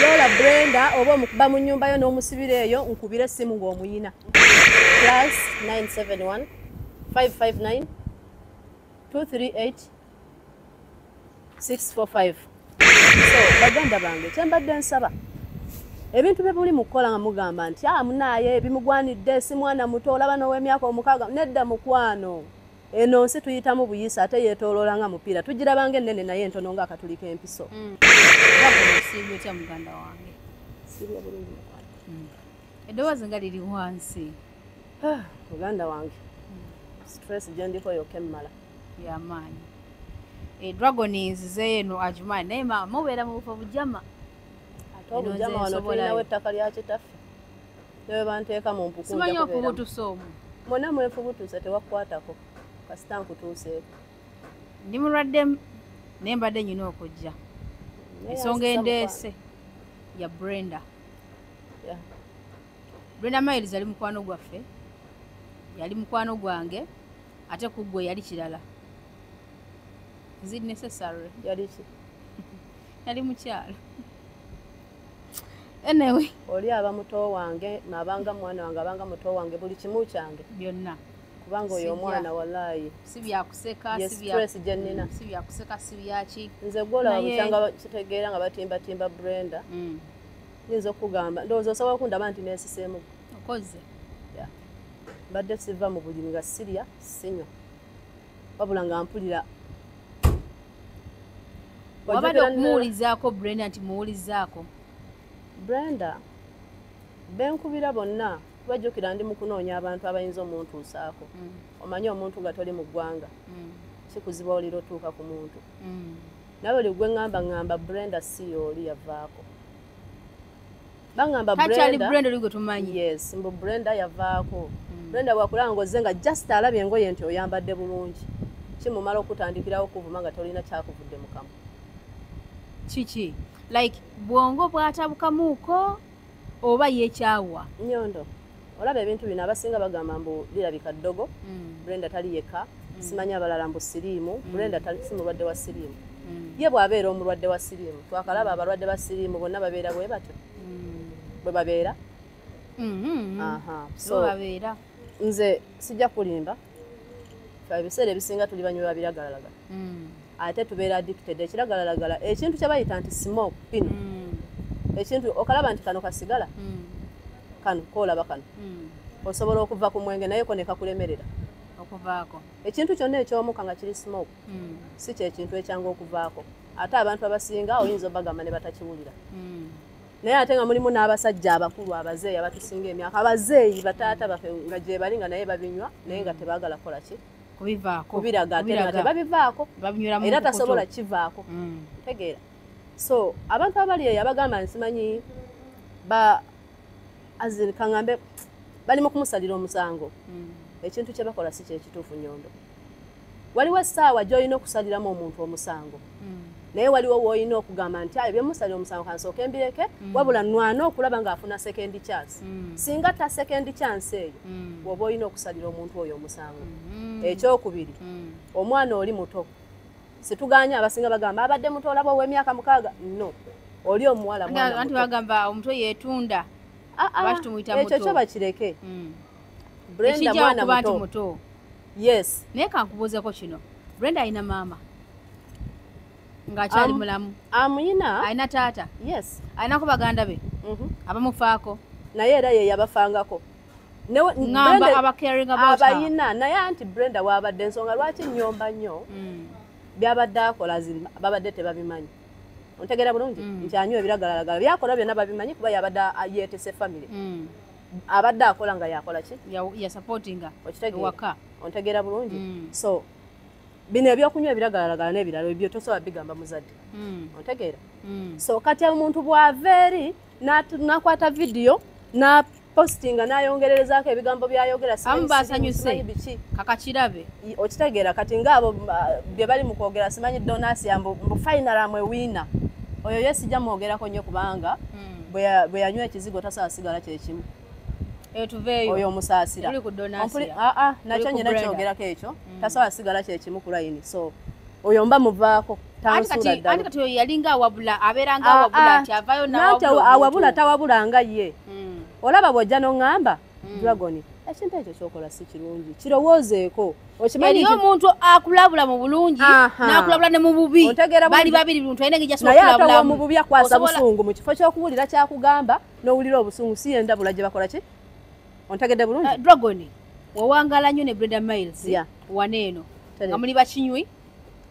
yola brenda oba omukuba mu nyumba yo n'omusibira eyo nkubire essimu ng'omuyina plus 971 559 238 645 so baganda bange kyembadde nsaba ebintu bye buli mukukola nga mugamba nti a ah, munaaye bimugwanidde si mwana muto olaba n'ow'emyaka omukaaga nedda mukwano eno nsi tuyitamu buyisa ate yetoloola nga mupiira tugirabanga ennene naye entono nga akatuli k'empiso mm. mm. eddoboozi nga liri wansi ah, muganda wange mm. stress gye ndiko yoka emmala yamaanyi eh, dragon nzizeyo eno agimaanyi naye maama mubeera mu bufo bujama ate obujama wano tulinawo ettaka lya kitaffe newebanteeka mu mpukusimanyi okubutusa omu mwena mwefubutusa tewakukwatako kasita nkutuuseeko ndi mulwadde naye mbadde nyina okujja ensonga endeese ya brenda brenda miles yali mukwano gwaffe yali mukwano gwange ate kuggwe yali kirala is it necessary yali ki yali mukyalo anyway oli aba muto wange nabanga mwana wange abanga muto wange buli kimu kyange byonna kubanga oyo omwana walayi si byakuseka stress gye nnina mm, si byakuseka si byaki nze gwolaba bukyanga kitegeera nga batimbatimba brenda mm. nyinza okugamba ndowooza osobola okundaba nti nesiseemu okoze mbadde siva mu bulimi nga sirya sinywa wabula nga mpulira wabadde okumuwulizaako brenda nti muwulizaako brenda benkubira bonna kubajjukira ndi mukunoonya abantu abayinza omuntuusaako mm. omanyi omuntu nga toli mu ggwanga mm. kikuziba olira otuuka ku muntu mm. nawe oli gwe ŋŋamba ŋŋamba brenda si yooli yavaako bangamba brenda brenda liko tumanyi yes mbu brenda yavaako hmm. brenda bwakulaba ngozze nga just alabye engoye nti oyambadde bulungi kimumala okutandikirawo okuvuma nga tolina kyakuvudde mukamu kiki like bwongo bwatabukamuuko oba yekyawa nyondo olaba ebintu bino abasinga bagamba mbu birabika ddogo mm. brenda tali yekka mm. simanyi abalala mbu siriimu mm. brenda si mulwadde wa siriimu ye bw'abeera omulwadde wa siriimu twakalaba abalwadde ba siriimu bonna babeera bwe batyo bwe babeera mm-hmm. nze sijja kulimba ebiseera ebisinga tuli banywi ba biragalalagala mm. ate tubeera addicted ekiragalalagala ekintu kyebayita nti smoke pin mm. ekintu okalaba nti kano kasigala mm. kano koolaba kano osobola okuva ku mwenge naye ko nekakulemerera okuvaako ekintu kyonna ekyomuka nga kiri smoke si kyekintu ekyangu okuvaako ate abantu abasinga oyinza obagamba ne batakiwulira naye ate nga mulimu n'abasajja abakulu abazeeyi abatusinga emyaka abazeeyi bataata bafe nga gyebali nga naye babinywa naye nga tebagala kukola ki kubiraga ate nga tebabivaako era tasobola kivaako mm. tegeera so abantu abali eyo abagamba nsimanyi ba azin kaŋambe bali mu kumusalira omusango mm. ekintu kyebakola si kyekituufu nyondo waliwo essaawa gy'olina okusaliramu omuntu omusango hmm. naye waliwo woolina okugamba nti ayo byemusalira omusango kansooka embireke hmm. wabula nwana okulaba ng'afuna sekendi kyansi hmm. singa ta sekendi kyansi eyo woba olina okusalira omuntu oyo omusango ekyokubiri omwana oli muto situganye abasinga bagamba abadde muto olaba ow'emyaka mukaaga no oli omuwala mwana muto bagamba omuto yeetunda ah, ah, ekyo kyo bakireke brendakubanti muto yes naye kankubuuzeko kino brenda alina maama ngaakyali mulamu amuyina alina taata yes alinako baganda be mhm. abamufaako naye era ye yabafangako abayina naye anti brenda waabadde ensonga lwaki nyomba nnyo mm. byabadde akola babadde tebabimanyi ontegeera bulungi mm. nti anywa ebiragalalagala byakola byonna babimanyi kuba yabadde yeetese famiry mm. abadde akola nga yakola ki yasupportinga ewaka ontegeera bulungi mm. so bino ebyokunywa ebiragalalagala n'ebirala ebyo tosobola bigamba muzadde mm. ontegeera mm. so kati omuntu bw'ava eri n'akwata vidiyo postinga nayongererezaako ebigambo byayogera amu basanyuse kakakirabe okitegeera kati ngaabo bye bali mu kwogera simanyi donasia mbu fainalamu ewiina oyo ye sijja mwogerako nnyo kubanga bwe yanywa ekizigo tasaa sigala kyekimu eh, oyo omusaasira ah, ah, nakyo nyina kyogerako ekyo mm. tasobola sigala kyekimu ku layini so oyo mba muvaako awabula tawabulanga ye mm. olaba bwojja noŋŋamba mm. dragon ekintu ekyo kyokola si kirungi kirowoozeeko okimanyi omuntu akulabula mu bulungi nakulabula ne mu bubi bali babiri bintu ayina ngejasonaye atawa mu bubi akwasa busungu mu kifo kyokuwulira kyakugamba nowulira obusungu si yendabula gye bakola ki ontegedde bulungi eh, dragon wawangala nnyo ne breda miles wana eno nga muli bakinywi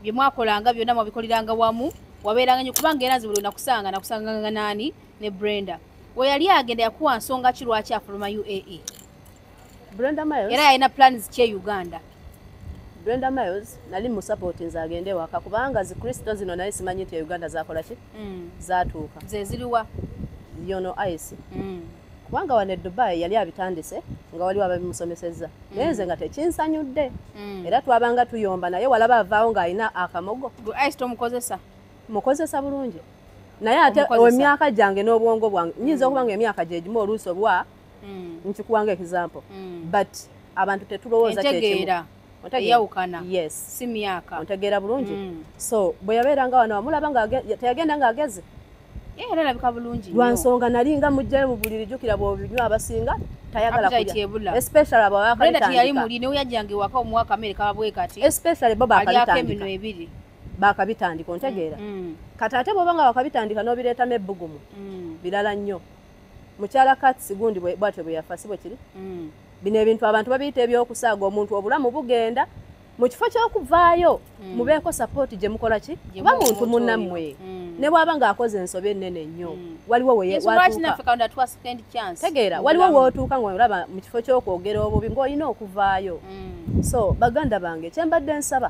byemwakolanga byonna mwabikoliranga wamu wabeeranga nyo kubanga era nze buli nakusanga nakusanganga nani ne brenda weyali agenda yakuwa nsonga ki lwaki afuluma uae brenda miles era yalina plans kye uganda brenda miles nali musapoti nze agende ewaka kubanga zikristo zino naye simanyi nti euganda zakola ki mm. zatuuka zeziriwa yono ice mm. kubanga wano edubai yali abitandise nga waliwo ababimusomesezza mm. naye nze nga tekinsanyudde mm. era twabanga tuyomba naye walaba avaawo ng'alina akamogo ice tomukozesa mukozesa bulungi naye ate emyaka gyange n'obwongo bwange nyinza mm. okuba nga emyaka gyegimu oluusi obwa mm. nkikuwa nga example mm. but abantu tetulowooza kyekimu eyawukana yes si myaka ontegeera bulungi mm. so bwe yabeeranga wano wamulaba nga teyagenda nga ageze eh, era alabika bulungi lwa nsonga nali nga mujjayo mu buliri jjukira bwobinywa abasinga tayagala kulya especially abo abakalitandika yali muli newe yajjanga ewaka omuwa kamere kababwe kati especially bo bakalitandika emino ebiri bakabitandika ontegeera mm, mm. kati ate bwoba nga wakabitandika nobireetamu ebbugumu mm. birala nnyo mukyala kats gundi bwatyo bwe yafa si bwe kiri bino ebintu abantu babiyita ebyokusaaga omuntu obulamu bugenda mu kifo ky'okuvaayo mubeeko sapooti gye mukola ki kuba muntu munammwe ne bwaba ng'akoze ensobi ennene nnyo waliwo wetegeera waliwo wootuuka ngaolaba mu kifo ky'okwogera obubi ng'olina okuvaayo so baganda bange kyembadde nsaba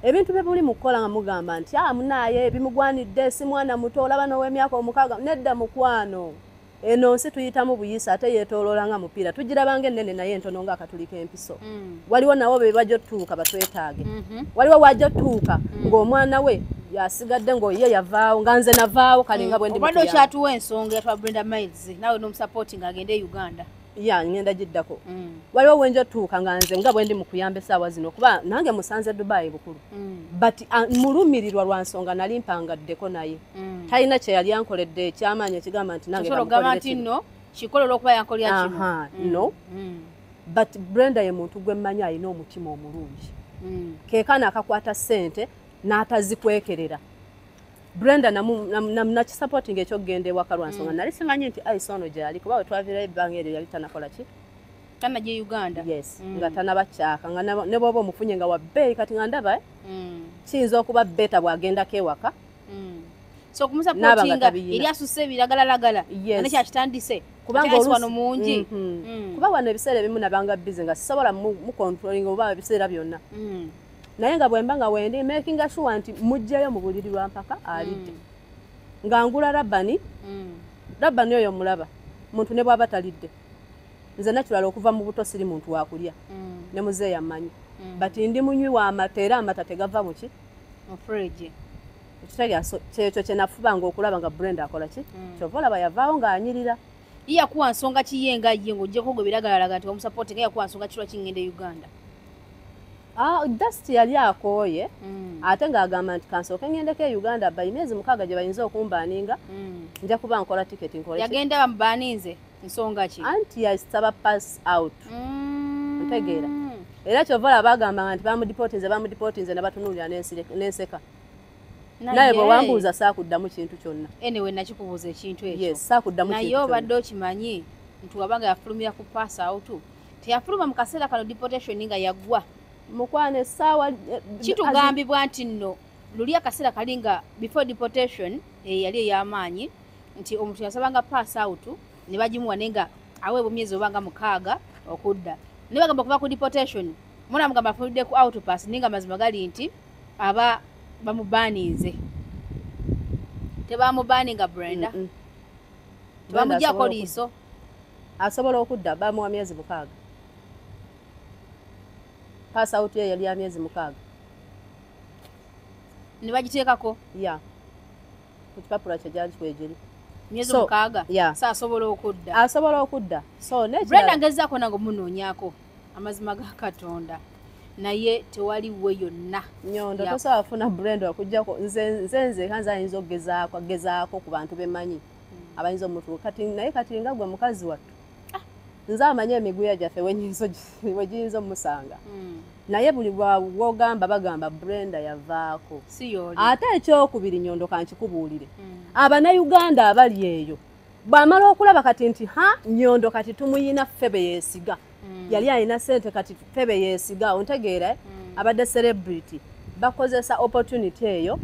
ebintu bye muli mu kukola nga mugamba nti a ah, munaaye bimugwanidde si mwana muto olaba n'ow'emyaka omukaaga nedda mukwano eno nsi tuyitamu buyisa ate yeetooloola nga mupiira tugirabanga ennene naye entono nga akatuli k'empiso mm. waliwo nawo be bajja otutuuka batwetaage mm-hmm. waliwo wajja otutuuka mm. ng'omwana we yasigadde ng'oye yavaawo nga nze navaawo kale nga mm. bwendi obadde okyatuwa ensonga yatwa brenda miles nawe n'omusapoti ng'agende e uganda ya ngenda giddako mm. waliwo wenja otuuka nga nze nga bwendi mukuyamba esaawa zino kuba nange musanze dubai bukulu mm. but uh, mulumirirwa lwa nsonga nali mpangaddeko naye mm. talina kyeyali ankoledde ekyamaanyi ekigamba nti nange no but brenda ye muntu gwemmanyi alina omutima omulungi kekana akakwata ssente n'atazikwekerera Brenda nakisupporting ekyokugenda ewaka lwa nsonga mm. nali simanyi nti aisa ono gyali kuba wetwaviirayo ebbanga eryo yali tanakola ki tana gye uganda yes mm. nga tanabakyaka nga ne bwoba omufunye nga wabbeeyi kati nga ndaba eh? mm. kiyinza okuba beta bwagendako ewaka so okumusapotinga eri asusse ebiragalalagala ane kyakitandise kubanga wano mungi mm-hmm. kuba wano ebiseera ebimu nabanga bize nga sisobola mucontrolinga oba ebiseera byonna naye nga bwemba nga wendi makinga sure nti mujjayo mu buliri lwa mpaka alidde mm. nga ngula rabani mm. rabani oyo mulaba muntu ne bwaba talidde nze nakirala okuva mu buto siri muntu wakulya mm. ne muze yamanyi mm. but ndi munywi wa amata era amata tegava muki mufriji ekitegeaso kyekyo kyenafubanga okulaba nga brenda akola ki mm. kyova olaba yavaawo ng'anyirira iyakuwa nsonga kiye nga ye ngaojjako gwe biragalalaga nti wamusapoti nga yakuwa nsonga kirwa kingenda e uganda ah, dust yali akooye mm. ate ngaagamba nti kansooke ngendeko e uganda bayi myezi mukaaga gye bayinza okumbaninga mm. nja kuba nkola tiketi yagenda bamubaninze nsonga ki anti yasaba pass out mm. ntegeera era kyova olaba agambanga nti bamudipotinze bamudipotinze ne batunulira n'enseka naye bwe wambuuza saakuddamu kintu kyonna anyway nakikubuuza ekintu ekyo yes saakuddamu kintu naye obadde okimanyi nti wabanga yafulumira ku pass out teyafuluma mu kaseera kano deportation nga yaggwa mukwano essaawa eh, kitugambibwa nti nno luli akaseera kali nga before deportation eyali eh, ey'amaanyi nti omuntu yasabanga pass out ne bagimuwa naye nga aweebwa emyezi obanga mukaaga okudda naye bagamba okuva ku deportation muna mugamba afulidde ku outpass naye nga mazima gali nti aba bamubaaninze tebamubaaninga brenda tebamugyako liiso asobola okudda bamuwa myezi mukaaga pass out ye yali ya myezi mukaaga ne bagiteekako ya ku kipapula kye gyali kikwegiri myezi mukaaga saasobola okudda asobola okudda so brenda ngezaako nange omunoonyako amazima ga katonda naye tewali we yonna nyondo tosobola kufuna brand wakujjako nze nze nze kanza ayinza okugezaako agezaako ku bantu bemanyi hmm. abayinza omutuuka kati naye kati nga gwe mukazi wattu ah. nze amanyi emiguya gyaffe wegiyinza omusanga hmm. naye buli wogamba bagamba brenda yavaako ate ekyokubiri nyondo kankikubuulire hmm. abanauganda abali eyo bwamala okulaba kati nti ha nyondo kati tumuyina febe yesiga mm. yali alina sente kati febe yesiga ontegeera mm. abadde celebrity bakozesa opportunity eyo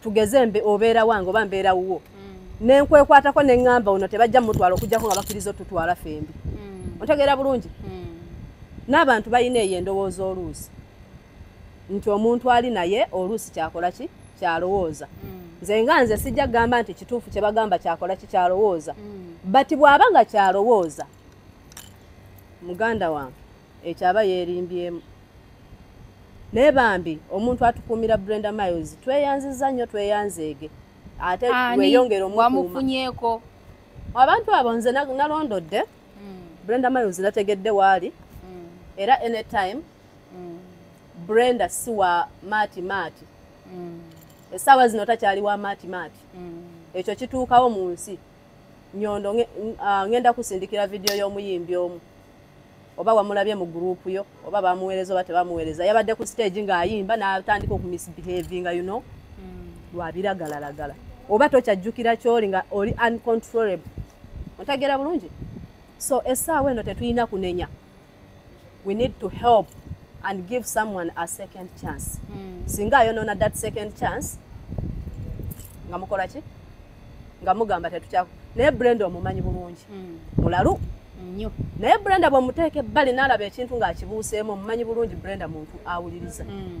tugeze mbe obeera wange oba mbeera wuwo mm. nenkwekwatako neŋŋamba ono tebajja mumutwala okujjako nga bakkiriza otutwala fembi mm. ontegeera bulungi mm. n'abantu balina eyo endowooza oluusi nti omuntu ali naye oluusi kyakola ki kyalowooza mm. nze nga nze sijja kugamba nti kituufu kye bagamba kyakola ki kyalowooza mm. but bw'aba nga kyalowooza muganda wange ekyo aba yeerimbyemu naye bambi omuntu atukuumira brenda miles tweyanziza nnyo tweyanzeege ate weyongere omuwamufunyeko abantu abo nze nalondodde mm. brenda miles nategedde waali era anytime mm. brenda si wa maati maati mm. esaawa zino takyali wa maati maati mm. ekyo kituukawo mu nsi nyondo ngenda kusindikira vidiyo y'omuyimbi omu oba wamulabye mu gurupu yo oba bamuweereza oba tebamuweereza yabadde ku stage ng'ayimba n'atandika okumisbehavinga you know mm. lwabiragalalagala oba tokyajjukira kyoli nga oli uncontrollable otegeera bulungi so essaawa eno tetulina kunenya we need to help and give someone a second chance mm. singa ayonona that second chance nga mukola ki nga mugamba tetukyako naye brenda omumanyi bulungi hmm. mulalu nnyo naye brenda bwemuteeka ebbali naalaba ekintu ng'akibuuseemu omumanyi bulungi brenda muntu awuliriza hmm.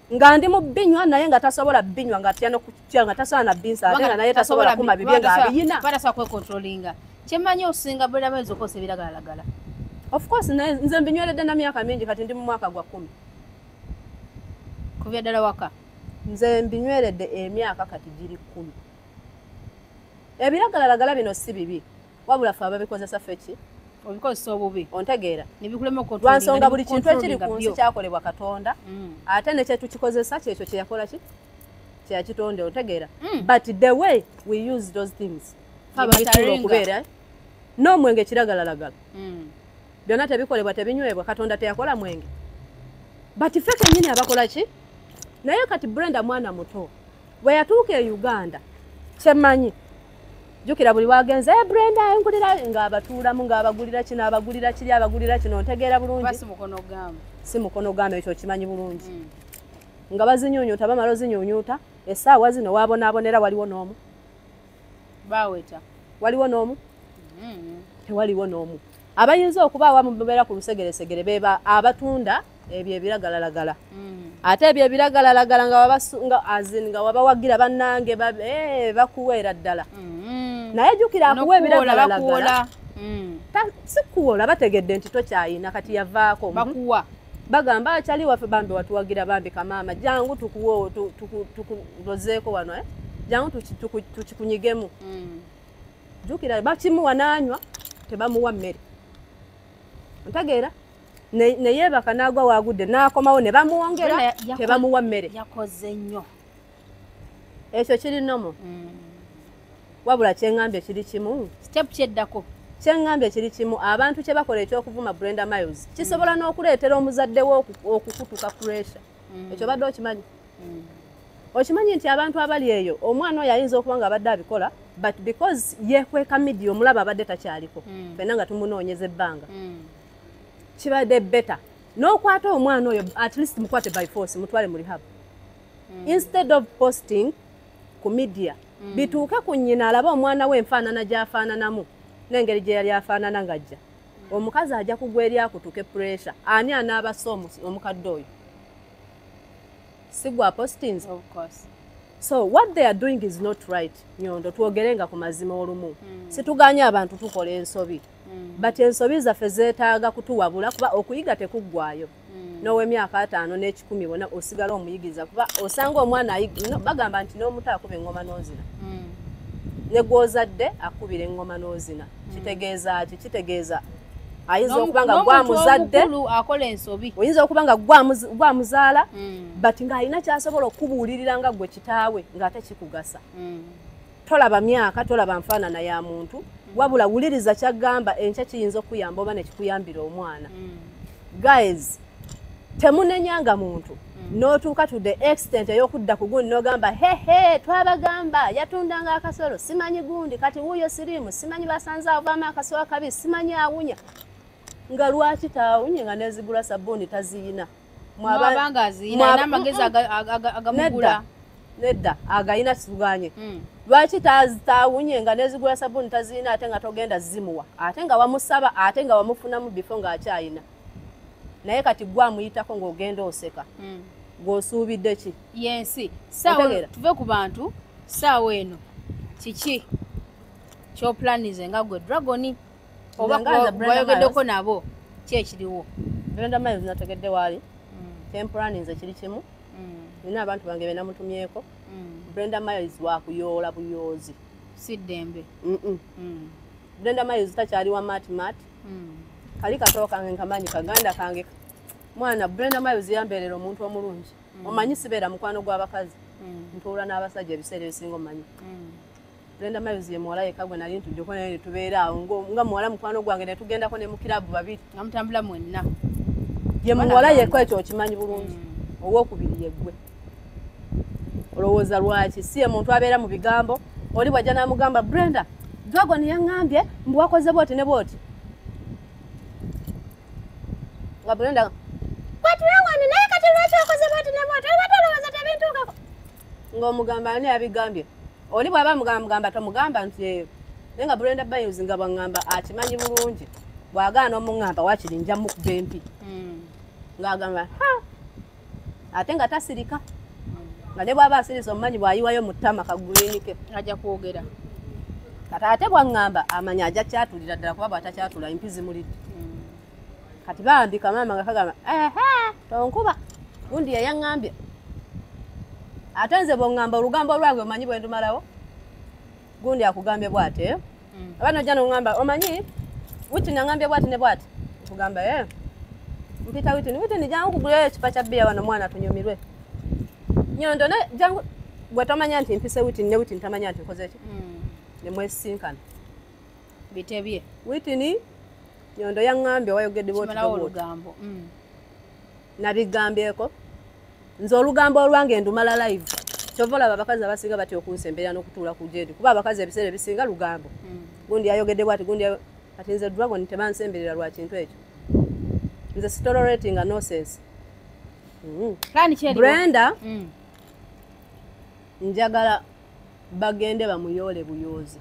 nga ndi mu binywa naye nga tasobola binywa nga atya nokutya nga tasobola na binsa ate nga naye tasobola kuma bibye nga abiyina batasobola kwekontrolinga kyemmanyi osinga bulaba oyinza okozesa ebiragalalagala of course nze mbinyweredde na myaka mingi kati ndi mu mwaka gwa kumi kubya ddala waka nze mbinyweredde emyaka kati giri kumi ebiragalalagala bino si bibi wabula fe ababikozesa feki obikozesa obubi ontegeera lwansonga buli kintu ekiri ku nsi kyakolebwa katonda mm. ate nekyetukikozesa kyekyo kyeyakola ki kyeyakitonde ontegeera mm. but the way we use those things abaikulu okubeera eh? n'omwenge kiragalalagala mm. byonna tebikolebwa tebinywebwa katonda teyakola mwenge but fe kenyini abakola ki naye kati brenda mwana muto bwe yatuuka e uganda kyemanyi jukira buli wagenze e brenda engulira nga abatuulamu nga abagulira kino abagulira kiri abagulira kino ntegeera bulungi si mukono gamba ekyo kimanyi bulungi mm. nga bazinyunyuta bamala ozinyunyuta esaawa zino wabonaabonera waliwo n'omu baweta waliwo n'omu mm. tewaliwo n'omu abayinza okuba awamu babeera ku lusegeresegere beba abatunda ebyo ebiragalalagala mm. ate ebyo ebiragalalagala nga azin nga wabawagira bannange eh, bakuweera ddala mm. naye jukira akuwa ebiragalalagala mm. sikuwola bategedde nti tokyayina kati yavaako bakuwa bagamba akyali ah, waffe bambi watuwagira bambi kamaama jangu tukuwe tukulozeeko wano eh? jangu tukikunyigemu jukira bakimuwa nanywa tebamuwa mmere ntegeera neyebaka nagwa wagudde nakomawo ne bamuwongera tebamuwa mmere yakoze nnyo ekyo kiri nomo mm. wabula kyengambye kiri kimu step kyeddako kyengambye kiri kimu abantu kye bakola ekyokuvuma brenda miles mm. kisobola mm. n'okuleetera omuzadde we okukutuka pressure mm. ekyo badde okimanyi mm. okimanyi nti abantu abali eyo omwana oyo ayinza okuba nga abadde abikola but because yekweka midia omulaba abadde takyaliko mm. fena nga tumunoonyeza ebbanga mm. kibadde better n'okwata omwana oyo at least mukwate by force mutwale mu rehab mm. instead of posting ku media mm. bituuke ku nnyina alabe omwana we enfaanana gy'afaananamu n'engeri gye yali afaanana ng'ajja mm. omukazi ajja kugwa eri akutuke puresha ani anaabasa omukadde oyo sigwa postings of course so what they are doing is not right nyondo twogere nga ku mazima olumu mm. situganye abantu tukola ensobi mm. but ensobi zaffe zetaaga kutuwabula kuba okuyiga tekuggwayo mm. nowemyaka ataano n'ekikumi bona osigala omuyigiriza kuba osanga omwana bagamba nti n'omuto akuba eŋŋoma n'ozina mm. ne gwozadde akubira eŋŋoma n'ozina kitegeeza ki kitegeeza ayinza okuba nga gwamuzadde oyinza okuba nga gwamuzaala but ng'alina kyasobola okukubuulirira nga gwe kitaawe ng'ate kikugasa tolaba myaka tolaba nfaanana ya muntu wabula wuliriza kyagamba enkya kiyinza okukuyamba oba nekikuyambira omwana mm. guys temunenyanga muntu mm. notuuka to the extent eyokudda ku gundi nogamba hehe twabagamba yatundanga akasolo simanyi gundi kati wuuyo siriimu simanyi basanze avaamu akasolo akabi simanyi awunya nga lwaki taawunye nga nezigula sabuuni taziyina nedda agayina situganye hmm. lwaki tawunye nga nezigula sabuni tazirina ate nga togenda zimuwa ate nga wamusaba ate nga wamufunamu bifo ngaakyayina naye kati gwe amuyitako ngaogenda oseka hmm. gwosuubidde ki yensi tuve ku bantu saawa eno kiki kyoplanize nga gwe dragoni obaoyogeddeko nabo ki ekiriwo brenda miles nategedde waali mm. kempulani nze kiri kimu mm. nina abantu bange benamutumyeko mm. brenda miles wakuyoola buyoozi siddembe brenda miles takyali wa mat mat kali katoo kange nkamanyi kaganda kange mwana brenda miles yambeerera omuntu omulungi omanyi sibeera mukwano gw'abakazi ntuula n'abasajja ebiseera ebisinga omanyi Brenda Miles ye muwala yekka gwe nali ntujjeko naye ne tubeera awo nga muwala mukwano gwange ne tugendako ne mu kiraabu babiri nga mutambula mwenna ye muwala yekka ekyo okimanyi bulungi mm. owokubiri yeggwe olowooza lwaki si ye muntu abeera mu bigambo oli bwajja n'amugamba Brenda dragon yaŋŋambye mbu wakoze bwoti ne bwoti nga Brenda bwatulawanyi naye kati lwaki wakoze bwoti ne bwoti olwatolowooza tebintuukako ng'omugamba ani abigambye oli bw'aba mugambagamba tomugamba nti eyo naye nga brenda bayus nga bwaŋŋamba akimanyi bulungi bw'agaana omuŋŋamba wakiri nja mukuba empi hmm. ng'agamba ate nga tasirika nga ne bw'aba asiriza omumanyi bw'ayiwayo mu ttama kaguliinike ajja kwogera kata ate bwaŋŋamba amanyi ajja kyatulira ddala kuba bw'atakyatula empi zimulidde kati bambi kamaama nga kagamba tonkuba gundi yayaŋambye ate nze bweŋŋamba olugambo lwange omanyi bwe ndumalawo gundi akugambye bwate mm. aba nojja noŋŋamba omanyi witini aŋambye bwati ne bwati nkugamba e mpita witini witini jangu kugulayo ekipa kya bbiya wano omwana tunyumirwe nyondo ne jangu gwe tomanya nti mpise witini ne witini tamanya nti nkoze ki mm. ne mwesisinkana bitebye witini nyondo yaŋŋambye wayogedde bwotulugambo mm. nabigambyeko nze olugambo olwange ndumala live kyova olaba abakazi abasinga batya okunsemberera n'okutuula ku jendi kuba abakazi ebiseera ebisinga lugambo mm. gundi yayogedde bwati gundi kati nze dragon tebansemberera lwa kintu ekyo nze sitoleratinga nosense mm. brenda mm. njagala bagende bamuyoole buyoozi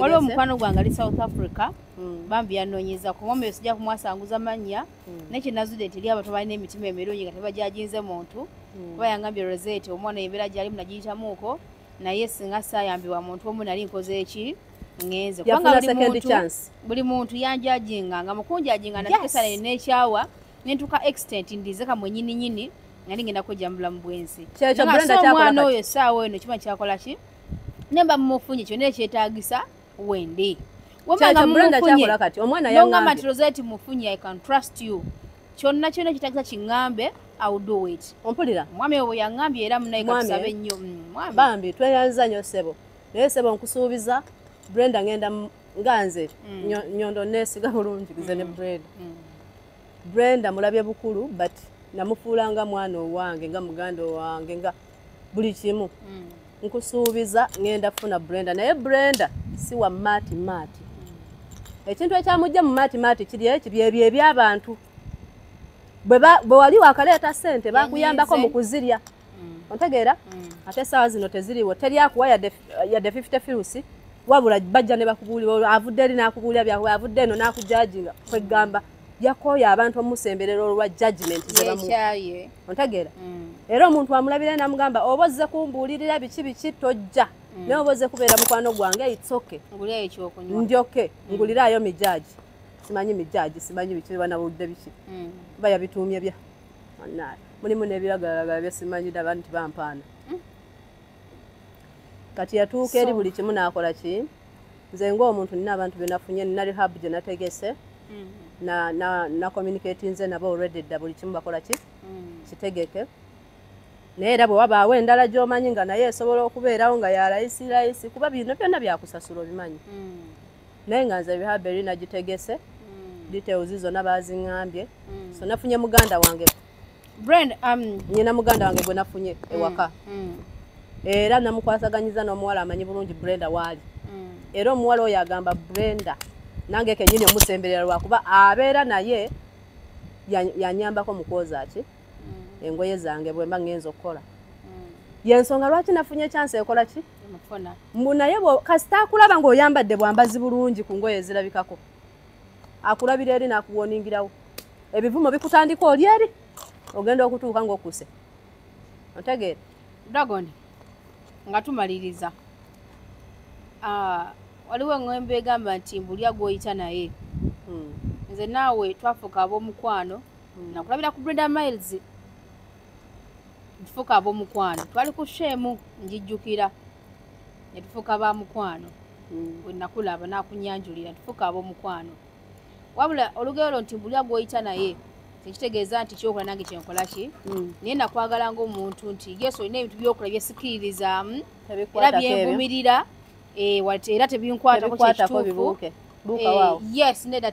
waliwo omukwano gwange ali south africa hmm. bambi yanonyeza kuba omuyo sijja kumwasanguza mannya hmm. naye kyenazude nti eri abantu balina emitima emirungi nga tebajajinze muntu hmm. kuba yangambye rosete omwana embeera gyalimu nagiyitamuuko naye singa sayambibwa muntu omu nali nkoze eki ngenze kubanga buli muntu yanjajinga nga mukunjajinga nakisaneyo nekyawa nentuka extent ndize kamwenyininyini nali ngenda kujja mu bulamu bwensi omwana oyo esaawa eno kima kyakola ki nemba mumufunye kyona ekyetagisa wendi wembaamumufunyengamba nti roseti mufunye i can trust you kyonna kyona kitagisa kiŋŋambe awuduwit ompulira omwami obo yaŋŋambye era munayekatusaba ennyo mm, bambi tweyanza nyo sebo naye sebo nkusuubiza brenda ngenda nga nze mm. nyondo nesiga bulungi nze ne mm. brenda Brenda mulabye bukulu but namufuula nga mwana owange nga muganda owange nga buli kimu mm. nkusuubiza ngenda funa Brenda naye Brenda si wa maati maati ekintu ekyamujja mu maati maati kiri eki byebyo ebyabantu bwe wali wakaleeta sente bakuyambako mu kuzirya yeah. mm. ontegeera mm. ate esaawa zino teziriwo teri akuwa yadde fifty firusi wabula bajja ne bakubuulira avudde eri n'akubuulira byakuba avudde eno n'akujajinga kwegamba yakooya abantu omusemberera olwa judgment zebamuye ontegeera mm. era omuntu amulabira namugamba oba ozze kumbuulirira biki biki tojja mm. naye oba ozze kubeera mukwano gwange itsoke ndi oke mm. nguliraayo mijaji simanyi mijaji simanyi biki banabudde biki bayabituumye bya Manaye. Mulimu nebiragalalagala byesimanyida abantu bampaana. Hmm. Kati yatuuka eri buli kimu nakola ki? Nze nga omuntu nina abantu benafunye nina rehab gye nategese. Hmm. Na na na communicate nze nabo already da buli kimu bakola ki? Hmm. Kitegeke. Naye era bwe wabaawo endala gy'omanyi nga naye esobola okubeerawo nga ya layisi layisi kuba bino byonna byakusasula obimanyi. naye nga nze rehab eri nagitegese mm. details zonna baziŋambye mm. so nafunye muganda wange brand um, nyina muganda wange gwe nafunye mm. ewaka era namukwasaganyiza n'omuwala amanyi bulungi brenda waali era omuwala oyo agamba brenda nange kenyini omusemberera lwakuba abeera naye yanyambako mukwoza ki mm. engoye zange bwemba ngenza okukola mm. yensonga lwaki nafunye ekyansi ekola ki mbu naye kasita akulaba ngaoyambadde bwambazi bulungi ku ngoye ezirabikako akulabira eri nakuwoningirawo ebivumo bikutandika oli eri ogenda okutuuka ngaokuse otegeera dragon nga tumaliriza ah, waliwo eŋembe egamba nti mbulya gwoyita naye hmm. nze naawe twafuka ab'omukwano mm. nakulabira ku breda miles ntufuuka abomukwano twali ku sheemu njijjukira netufuuka ba mukwano mm. wenakulaba nakunyanjulira ntufuuka abomukwano wabula olugero lo nti mbulya gwoyita naye tekitegeeza nti kyokola nange kyenkola ki mm. naye nakwagala ngaomuntu nti yesu olina ebintu byokola byesikiririzaamu era byenvumirira eh, era tebinkwatako kyekituufu eh, yes nedda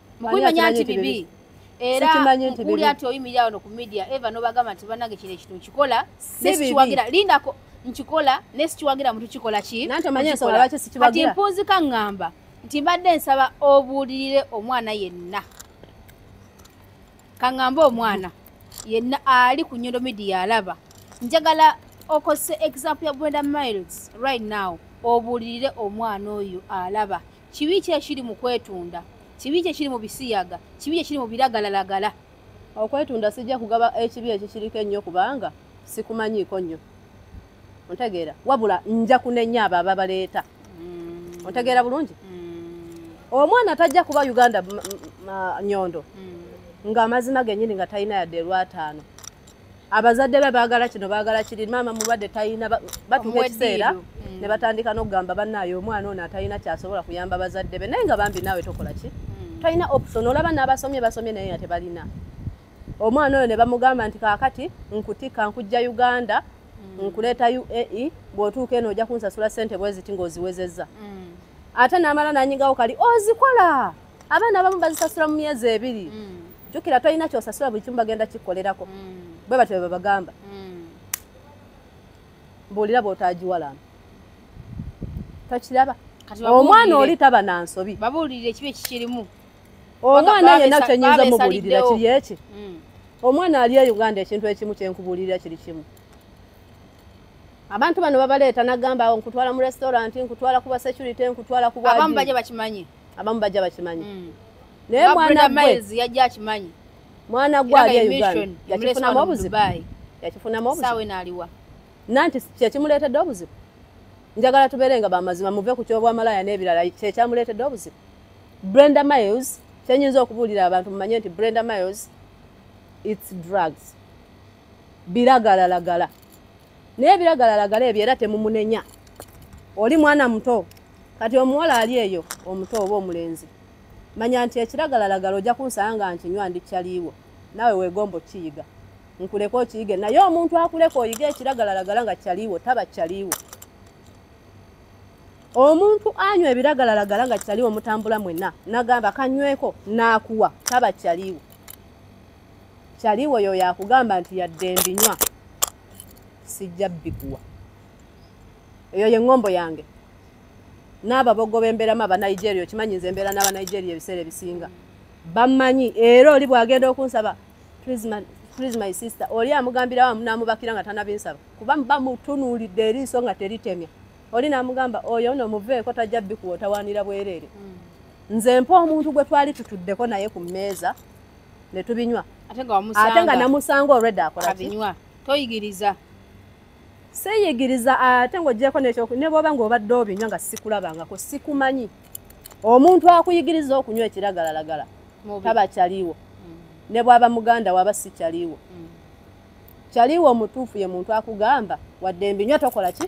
mukumanya nti bibi era mukuli ati oyimirira wano ku media eva nobagamba nti banange kino ekintu nkikola nesikiwagira lindako nkikola nesikiwagira muntu kikola ki kati mpunzika ngamba nti mbadde nsaba obuulirire omwana yenna kaŋambe omwana yenna ali ku nyondo media alaba njagala okozese example ya brenda miles right now obuulirire omwana oyo alaba kibi ki ekiri mu kwetunda kibi ki ekiri mu bisiyaga kibi ki ekiri mu biragalalagala okwetunda sijja kugaba ekibi ekyo kiriko ennyo kubanga sikumanyiiko nnyo ontegeera wabula nja kunenya abo ababaleeta mm. ontegeera bulungi mm. omwana tajja kuba uganda nyondo mm. ng'amazima gennyini nga talina yadde elwataano abazadde be baagala kino baagala kiri maama mulwadde talina batuuka ekiseera mm. ne batandika n'okugamba bannaayo omwana ono atalina kyasobola kuyamba bazadde be naye nga bambi naawe tokola ki mm. talina option olaba n'abasomye basomye naye nga tebalina omwana oyo ne bamugamba nti kaakati nkutikka nkujja uganda mm. nkuleeta uae bw'otuuka eno ojja kunsasula ssente bweziti ng'oziwezezza ate n'amala nanyigawo kali ozikola oh, abaana abamu bazisasula mu myezi ebiri mm. jukira tolina kyosasula buli kimu bagenda kikolerako mm. bwe batyo bebabagamba mm. mbuulira bwotagiwalana tokiraba omwana oli taba na nsobi babuulirira ekibi ekikirimu omwana yena kyenyinza mubuulirira kiri eki omwana ali e uganda ekintu ekimu kyenkubuulirira kiri kimu abantu bano babaleeta nagamba nkutwala mu restaurant nkutwala kuba security nkutwala kubabamu baje bakimanye abamu bajja bakimanyi mm. naye mwana gwe yajja akimanyi mwana gwe ali e uganda yakifunamu obuzibu yakifunamu obuzibu sawe naliwa nanti kyekimuleetedde obuzibu njagala tubeere nga bamazima muve ku kyobwamalaya n'ebirala kyekyamuleetedde obuzibu brenda miles kyenyinza okubuulira abantu mumanye nti brenda miles its drugs biragalalagala naye biragalalagala ebyo era temumunenya oli mwana muto kati omuwala ali eyo omuto oba omulenzi manya nti ekiragalalagala ojja kunsala nga nkinywa ndi kyaliiwo naawe weegomba okiyiga nkuleka okiyige naye omuntu akuleka oyige ekiragalalagala nga kyaliiwo taba kyaliiwo omuntu anywa ebiragalalagala nga kyaliiwo mutambula mwena nagamba kanyweko naakuwa taba kyaliiwo kyaliwo yoyo akugamba nti yadde mbinywa sijja bikuwa eyo yengombo yange n'ababogo b'embeeramu abanigeria okimanyi nze embeera n'abanigeria ebiseera ebisinga bamanyi era oli bwagenda okunsaba please my sister oli amugambirawo amunamubakira nga tanabinsaba kuba bamutunuulidde eriiso nga teritemya oli namugamba oyo no muveeko tajja bikuwa otawaanira bwereere hmm. nze mpa omuntu gwe twali tutuddeko naye ku mmeeza ne tubinywa ate nga wamusanga ate nga namusanga already akola abinywa toyigiriza seyigiriza ate nga ojjeko nekyo ne bwoba nga obadde obinywa nga sikulabangako sikumanyi omuntu akuyigiriza okunywa ekiragalalagala taba kyaliwo mm. ne bwaba muganda waba si kyaliwo mm. kyaliwo omutuufu ye muntu akugamba wadde mbinywa tokola ki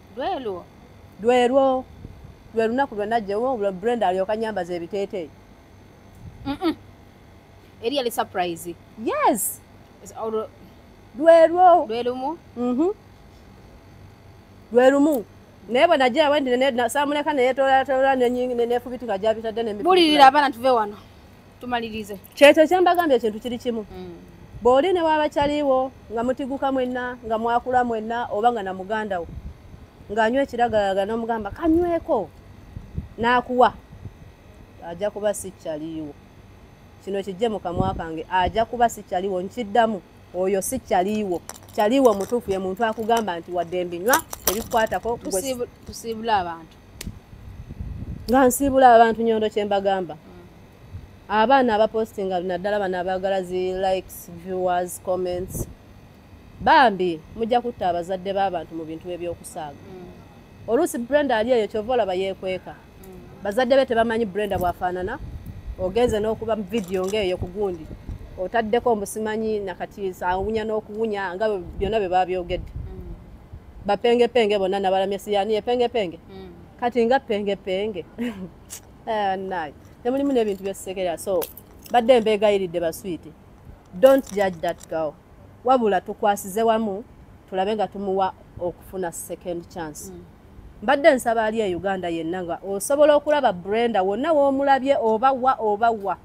lwelwo lwelwo lwe lunaku lwe najjewo brenda alyoka nyambaza ebiteeteeyi eri yali surprise yes lwelwo lwelumu mhm. lwelumu naye bwe najja wendi samuleka neyetolatoola nefubitika gyabitadde nemibulirira abaana tuve wano tumalirize kyekyo kyembagambye ekintu kiri kimu mm. bwoli ne waba kyaliwo nga mutiguka mwenna nga mwakula mwenna oba nga na muganda wo ng'anywa ekiragalaga n'omugamba kanyweko n'akuwa ajja kuba si kyaliwo kino kijje mu kamwa kange ajja kuba si kyaliwo nkiddamu oyo si kyaliwo kyaliwo omutuufu ye muntu akugamba nti wadde mbinywa ebikukwatako tusiibula abantu nga nsiibula abantu nyondo kyembagamba abaana abapostinga naddala bano abaagala zi likes viewers comments bambi mujja kutta abazadde b'abantu mu bintu ebyokusaaga mm. oluusi brenda ali eyo kyova olaba yeekweka mm. bazadde be tebamanyi brenda bwafaanana ogenze n'okuba vidiyo ng'eyo ku gundi otaddeko mbusimanyi nakati awunya n'okuwunya nga byonna bye baabyogedde bapengepenge bonna nabalamya siyani epengepenge mm. kati nga pengepenge eh, naye nemulimu nebintu byetusekera so badde mbeegayiridde baswiiti don't judge that girl wabula tukwasize wamu tulabe nga tumuwa okufuna second chance mm. mbadde mm. nsaba ali e uganda yenna nga osobola okulaba brenda wonna womulabye oba wa oba wa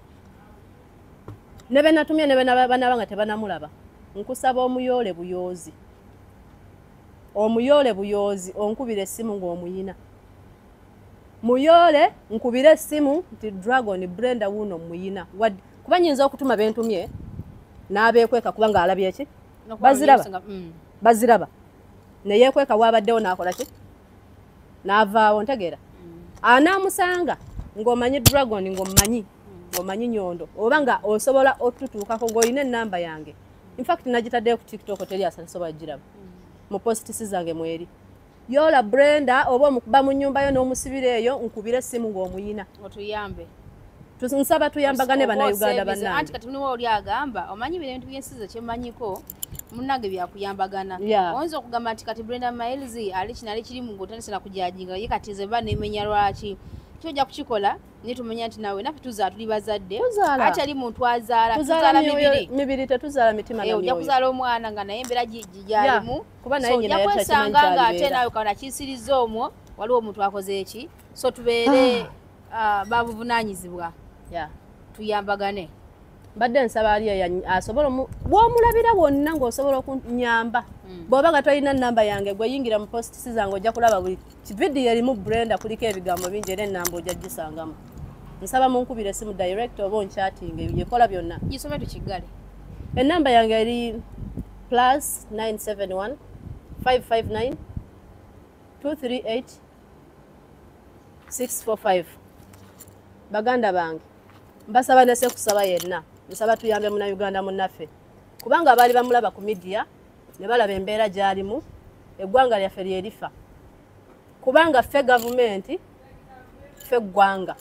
nebenatumye nebenabanaba nga tebanamulaba nkusaba omuyoole buyoozi omuyoole buyoozi onkubira essimu ng'omuyina muyoole nkubira essimu nti dragon brenda wuuno muyina kuba nyinza okutuma bentumye n'abeekweka kuba ng'alabye ki baziraba mm. baziraba neyeekweka waabaddewo n'akola ki n'avaawo ntegeera mm. anaamusanga ng'omanyi dragon ng'omumanyi mm. ng'omanyi nyondo oba nga osobola otutuukako ng'olina ennamba yange in fact nagitaddeyo ku tiktok teri asasobola giraba mu postisi zange mweri yola brenda oba omukuba mu nyumba yo n'omusibira eyo nkubire essimu ng'omuyina otuyambe nsaba tuyambagane banauganda bananti kati muliwo oli agamba omanyi bino ebintu byensi ze kyemmanyiko munange byakuyambagana oyinza okugamba nti kati brenda miles ali kinali kirimu ngaotandise nakujajinga ye kati ze ba nemenya lwaki kyoja kukikola naye tumanya nti nawe naffe tuzaala tuli bazadde atali muntu azaala tuzaala mibiri mibiri tetuzaala mitima na eh, myoyo ojja kuzaala omwana nga naye embeera gyalimu kuba naye nyina yali takimanyi kyalibeera nga ate nawe kana kisiriza omwo waliwo omuntu akoze eki so tubeere ah. ah, babuvunanyizibwa tuyambagane mbadde nsaba ali asobola bwomulabira wonna ngaosobola okunyamba hmm. bwoba nga tolina namba yange gweyingira mu post sizange ojja kulaba buli kividiyo erimu brenda kuliko ebigambo bingi era enamba ojja gisangamu nsaba munkubira esimu direct oba onkyatinga ebyekola byonna gisome tukigale enamba yange eri plus 971 559 238 645 baganda bange mbasaba nese kusaba yenna nsaba tuyambe muna uganda munaffe kubanga abaali bamulaba ku midiya ne balaba embeera gyalimu eggwanga lyaffe lyerifa kubanga ffe gavumenti ffe ggwanga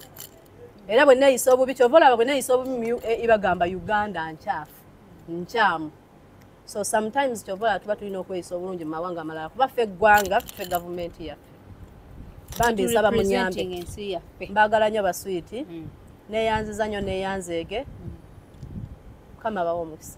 era bwe neeyisa obubi kyova olaba bwe neeyisa obubi mu ua e, ibagamba uganda nkyafu nkyamu so sometimes kyobola tuba tulina okweyisa obulungi mu mawanga amalala kuba ffe eggwanga ffe gavumenti yaffe bambi nsaba munyambe mbagala nyo baswiiti mm. neyanziza nyo neyanzeege mm. mukama bawo omukisa